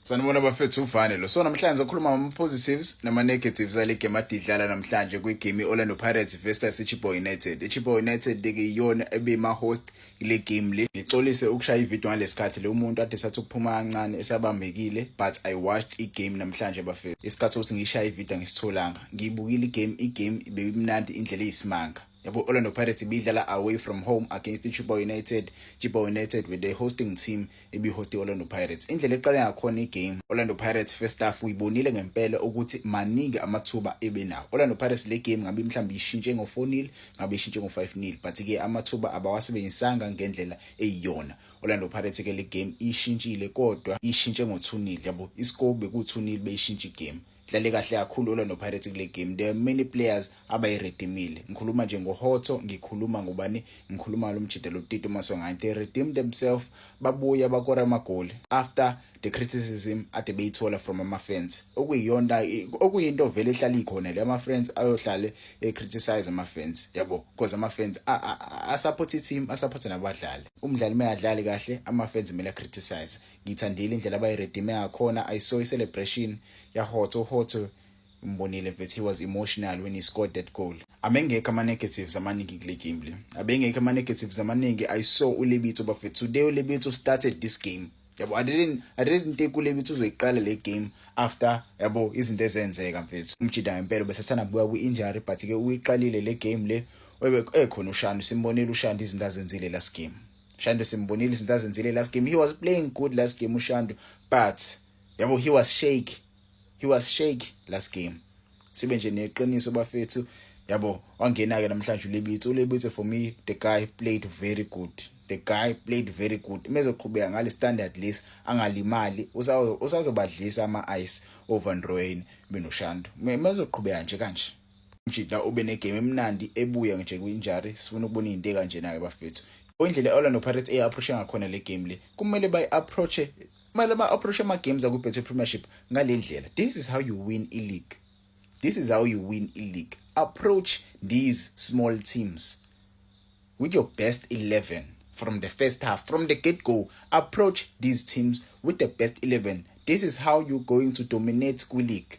Sanibona bafethu uvane lo. So namhlanje sokhuluma ngama positives nama negatives ale game adidlala namhlanje kwi game Orlando Pirates versus iChippa United. IChippa United ke iyona ebima host kule game le. Ngixolise ukushaya ivideo ngalesikhathi le umuntu ade sathi ukuphuma kancane esabambekile but I watched i game namhlanje bafethu. Isikhathi ukuthi ngishaya ivideo ngisitholanga. Ngiyibukile i game, i game ibeyimnandi indlela eyisimanga. yabo Orlando Pirates ibidlala away from home against iChipa United Chipa United with the hosting team ibihost Orlando Pirates indlela eqale ngakhona igame Orlando Pirates first half uyibonile ngempela ukuthi maningi amathuba ebenawo Orlando Pirates le game ngabe mhlawumbe ishintshe ngo 4-0 ngabe ishintshe ngo 5-0 but ke amathuba abawasebenzisanga ngendlela eyiyona Orlando Pirates ke le game ishintshile kodwa ishintshe ngo 2-0 yabo iscore beku 2-0 beyishintshe igame dlale kahle kakhulu olwa nopirates kule game there are many players abayiredimile ngikhuluma nje ngohotho ngikhuluma ngobani ngikhuluma ngalo mjida lotito maswangayo they redeemed themselves babuye abakora amagoli after the criticism ade beyithola from ama-fans okuyiyona okuyinto vele ehlala ikhona le ama-friends ayohlale e-criticize ama-fans yabo because ama-fans asupporte i-team asupporte nabadlali umdlali uma engadlali kahle ama-fans kumele a-criticize ngiyithandile indlela abayiredime ngakhona i saw i-celebration yahotho hotho ngimbonile mfethu he was emotional when he scored that goal abengekho ama-negatives amaningi kule game le abengekho ama-negatives amaningi i saw ulebitso bafethu today ulebitso started this game yabo i didn't i didn't think ulebitso uzoyiqala le game after yabo izinto ezenzeka mfethu umjida ngempela besesana buya kwi-injury but-ke uyiqalile le game le ekhona ushani simbonile ushani izinto azenzile last game Shando simbonile izinto azenzile last game he was playing good last game uShando but yabo he was shake he was shake last game sibe nje neqiniso bafethu yabo wangena ke namhlanje uLebitsi uLebitsi for me the guy played very good the guy played very good mezoqhubeka ngale standard list angalimali usazobadlisa ama ice over Ndroyini benoShando mezoqhubeka nje kanje Umjita ube negame emnandi ebuya nje kwi-injury sifuna ukubona izinto ekanjena-ke bafethu indlela i-orlando pirates eyi-approache ngakhona le game le kumele bayi-approache kumele ba-approache ama-games akwi-betway premiership ngale ndlela this is how you win i-league this is how you win i-league approach these small teams with your best 11 from the first half from the get go approach these teams with the best 11 this is how you're going to dominate kwi-league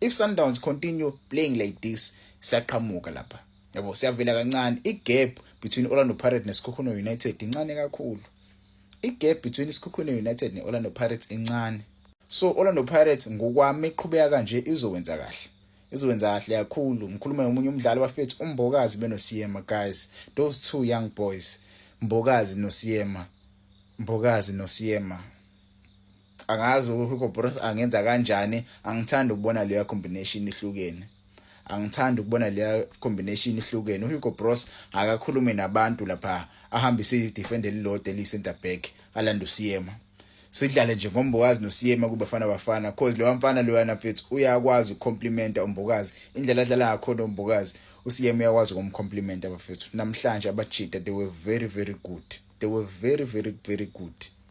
if Sundowns continue playing like this siyaqhamuka lapha yabo siyavela kancane igap between Orlando Pirates neSikhukhune United incane kakhulu igap between iSikhukhune United neOrlando Pirates incane so Orlando Pirates ngokwami iqhubeka kanje izowenza kahle izowenza kahle kakhulu ngikhuluma nomunye umdlali bafethu umbokazi benosiyema guys those two young boys mbokazi nosiyema mbokazi nosiyema angazi uHugo Broos angenza kanjani angithandi ukubona leya combination ihlukene angithandi ukubona leya combination ihlukene uHugo Broos akakhulume nabantu lapha ahambise idefender elilodwa eliyi-center back alanda uSiyema sidlale nje ngombokazi nosiyema kubafana bafana cause lewa mfana loyana mfethu uyakwazi ukucomplimenta umbokazi indlela adlala ngakhona umbokazi usiyema uyakwazi ukumcomplimenta bafethu namhlanje abajita they were very very good they were very very very good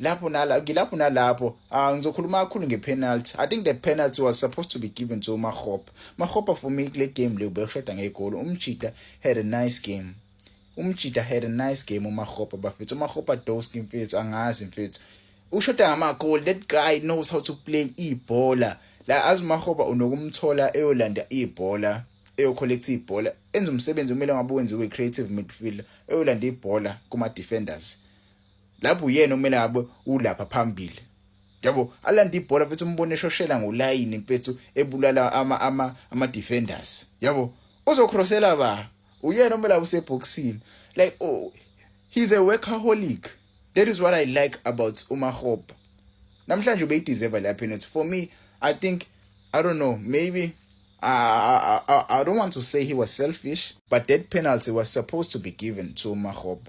lapho nala ngilapho nalapho uh, ngizokhuluma kakhulu ngepenalty i think the penalty was supposed to be given to umahopa mahopa for me kule game leyo bekushoda ngegolo umjita had a nice game umjita had a nice game umahopa bafethu umahopa doski mfethu angazi mfethu ushoda ngamagoli that guy knows how to play ibhola la azi umahopa unokumthola eyolanda ibhola eyocollecta ibhola enza umsebenzi kumele ngabe wenziwe creative midfielder eyolanda ibhola kuma defenders lapho uyena okumele ngabe ulapha phambili yabo alanda ibhola futhi umbone eshoshela ngolayini mfethu ebulala ama ama ama defenders yabo uzocrossela ba uyena omela useboxini like oh he's a workaholic that is what i like about umahopa namhlanje ubeyideserve la penalty for me i think i don't know maybe I, I, I don't want to say he was selfish, but that penalty was supposed to be given to Mahoba.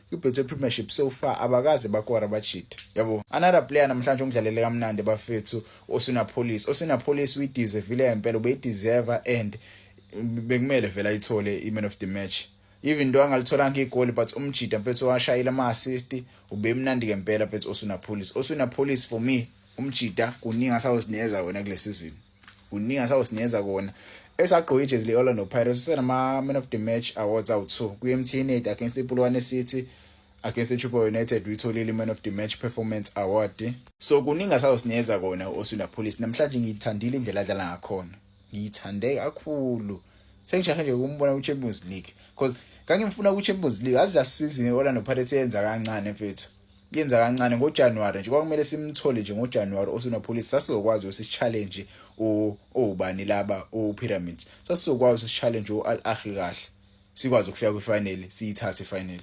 kwi-betway premiership so far abakaze bakora bajide yabo another player namhlanje ongidlalele kamnandi bafethu osuna police osuna police uyideservile ngempela ubeyideserva and bekumele vele ayithole i-man of the match even into angalitholanga igoli but umjida mfethu washayile ama-assist ubemnandi ngempela mfethu osuna police osuna police for me umjida kuningi asawuzinikeza wena kule sizini kuningi asawusinikeza kona esagqoke ijezi le-orlando pirates usenama-man of the match awards awu-two kwi-mtn aid against ipulwane city against ichupa united uyitholile i-man of the match performance award so kuningi asawusinikeza kona u-oswina police namhlanje ngiyithandile indlela adlala ngakhona ngiyithande kakhulu sengishahe nje ukumbona kwi-champions league because ngangimfuna kwi-champions league azi la season i-orlando pirates yenza kancane mfethu yenza kancane ngoJanuary nje kwakumele simthole nje ngoJanuary osunopolice sasizokwazi usichallenge ubani laba uPyramids sasizokwazi usichallenge uAl Ahly kahle sikwazi ukufika kwifinal siyithathe ifinal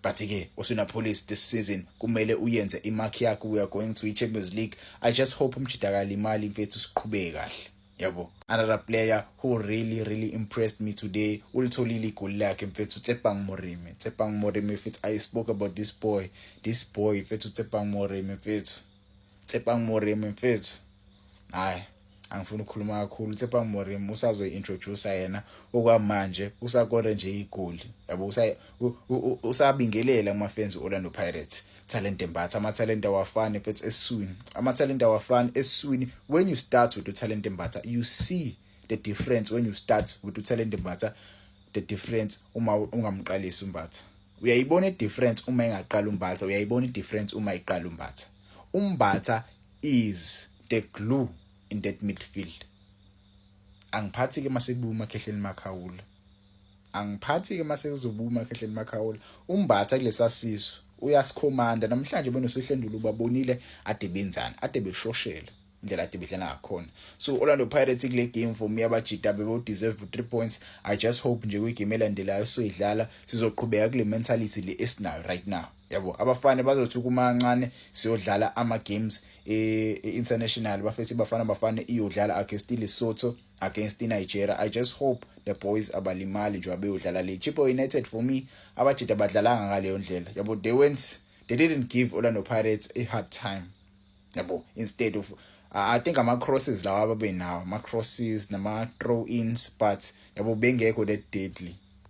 but ke usunopolice this season kumele uyenze imark yakho we are going to iChampions League i just hope umjidakala imali mfethu siqhubeke kahle yabo another player who really really impressed me today ulitholile igoli lakhe mfethu tsepang moremi tsepang moremi mfethu i spoke about this boy this boy mfethu tsepang moremi mfethu tsepang moremi mfethu hayi angifuni ukukhuluma kakhulu tsepang moremi usazoyi-introducer yena okwamanje usakore nje igoli yabo usabingelela umafenzi Orlando Pirates talent embatha amathalente awafani futhi eswini amathalente awafani eswini when you start with utalent embatha you see the difference when you start with utalent embatha the difference uma ungamqalisi umbatha uyayibona idifference uma engaqala umbatha uyayibona idifference uma iqala umbatha umbatha is the glue in that midfield angiphathi ke masebuma khehleni makhawula angiphathi-ke uma sekuzoba umakhehleni makhawula umbatha kulesa sisu uyasikhomanda namhlanje benosihlendulu babonile ade benzani ade beshoshela indlela ade bedlala ngakhona so Orlando Pirates kule game for me abajita bebo deserve 3 points i just hope nje kwigame elandelayo soyidlala sizoqhubeka kule mentality le esinayo right now yabo abafana bazothi kumancane siyodlala ama games e, e international bafethu bafana bafana iyodlala against Lesotho against iNigeria I just hope the boys abalimali njengoba beyodlala le Chippa United for me abajita badlalanga ngaleyo ndlela yabo they went they didn't give Orlando Pirates a hard time yabo instead of I think ama crosses lawa ababenawo ama crosses nama throw ins but yabo bengekho that deadly